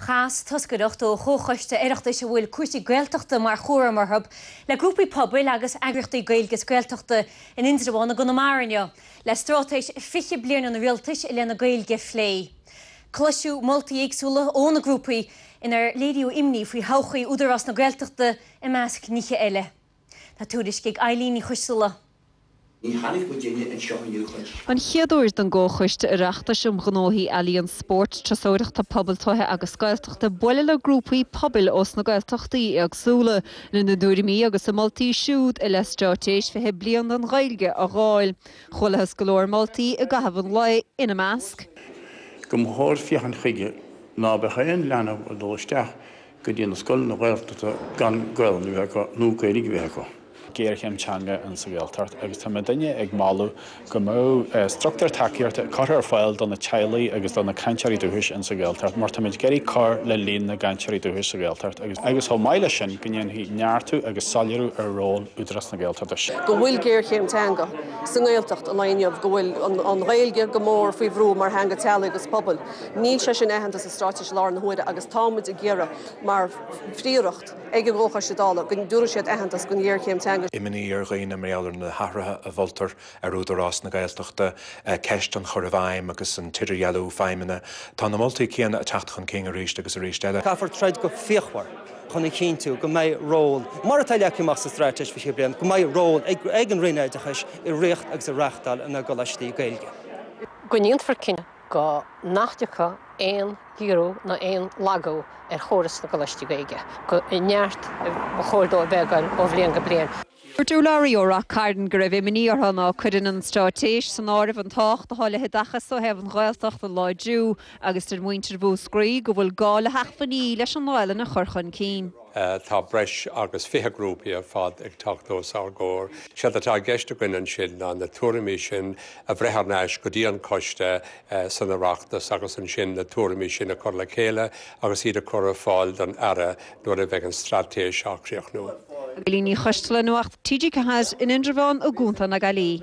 Chas toscaireacht ó Chomhchoiste Oireachtais a bhfuil cúrsaí Gaeltachta mar chúram orthu le grúpaí pobail agus eagraíochtaí Gaeilge is Gaeltachta in Indreabhán i gConamara inniu le Straitéis 20 Bliain an Rialtais i leith na Gaeilge a phlé. Cloiseadh moltaí éagsúla ó na grúpaí inar léiríodh imní faoi thodhchaí Údarás na Gaeltachta i measc nithe eile. Tá tuairisc ag Eibhlín Ní Choistealbha. Ní tháinig muid uile anseo inniu chun. An chéad uair don gComhchoiste Oireachtais um Ghnóthaí Ealaíon, Spóirt, Turasóireachta, Pobail, Tuaithe agus Gaeltachta bualadh le grúpaí pobail ós na Gaeltachtaí éagsúla lena dtuairimí agus a moltaí siúd i leith Straitéis 20 Bliain don Ghaeilge a dh'fháil. Chualathas go leor moltaí i gcaitheamh an lae, ina measc. Go mba chóir féachaint chuige ná beadh aon leanbh ag dul isteach go dtí na scoileanna Ghaeltachta gan Gaolainn a bheith acu nó Gaeilg a bheith acu. géarchéim teanga in sa Ghaeltacht agus tá muidne ag moladh go mbeadh structúr tacaíochta curtha ar fáil do na teaghlaigh agus do na cainteoirí dúchais in sa Ghaeltacht mar táimid ag iarraidh cur le líon na gcainteoirí dúchais sa Ghaeltacht agus agus chomh maith leis sin go ndéanfaí neartú agus soiléiriú ar ról Údarás na Gaeltachta. go bhfuil géarchéim teanga sa nGaeltacht an lá inniu, go bhfuil an Ghaeilge go mór faoi bhrú mar theanga teaghlaigh agus pobail. Níl sé sin aitheanta sa. Straitéis i láthair na huaire agus táimid ag iarraidh, mar phríoracht ag an gComhchoiste Dála, go dtabharfaidh siad aitheantas don ghéarchéim teanga seo. Imní ar dhaoine mar gheall ar na hathruithe a mholtar ar Údarás na Gaeltachta, ceist an chur i bhfeidhm agus an t-idirdhealú feidhmeanna. Tá na moltaí céanna ag teacht chun cinn arís agus arís eile. Caithfear troid go fíochmhar chun a chinntiú go mbeidh ról, mar atá leagtha amach sa Straitéis 20 Bliain, go mbeidh ról ag an Roinn Oideachais i riocht agus i reachtáil na gColáistí Gaeilge. Go ndéanfar cinnte. go nach dtiocfaidh aon ghiorrú ná aon lagú ar chóras na gColáistí Gaeilge, gur i neart ba chóir dó a bheith ag goil ó bhliain go bliain. Dúirt urlabhraí ó Ráth Cairn go raibh imní orthu ná cuireann an Straitéis san áireamh an tábhacht atá le hoideachas ó thaobh an Ghaeltacht a láidriú agus deir muintir Mhúscraí go bhfuil gá le hacmhainní leis an nGaelainn a chur chun cinn. Tá breis agus fiche grúpaí ar fad ag teacht os ár gcomhair. Séard atá i gceist againn ansin ná na tuairimí sin a bhreith thar n-ais go dtí an coiste san Oireachtas agus ansin na tuairimí sin a chur le chéile agus iad a chur ar fáil don Aire nuair a bheidh an straitéis á críochnú. Eibhlín Ní Choistealbha, Nuacht, TG4, in Indreabhán i gContae na Gaillimhe.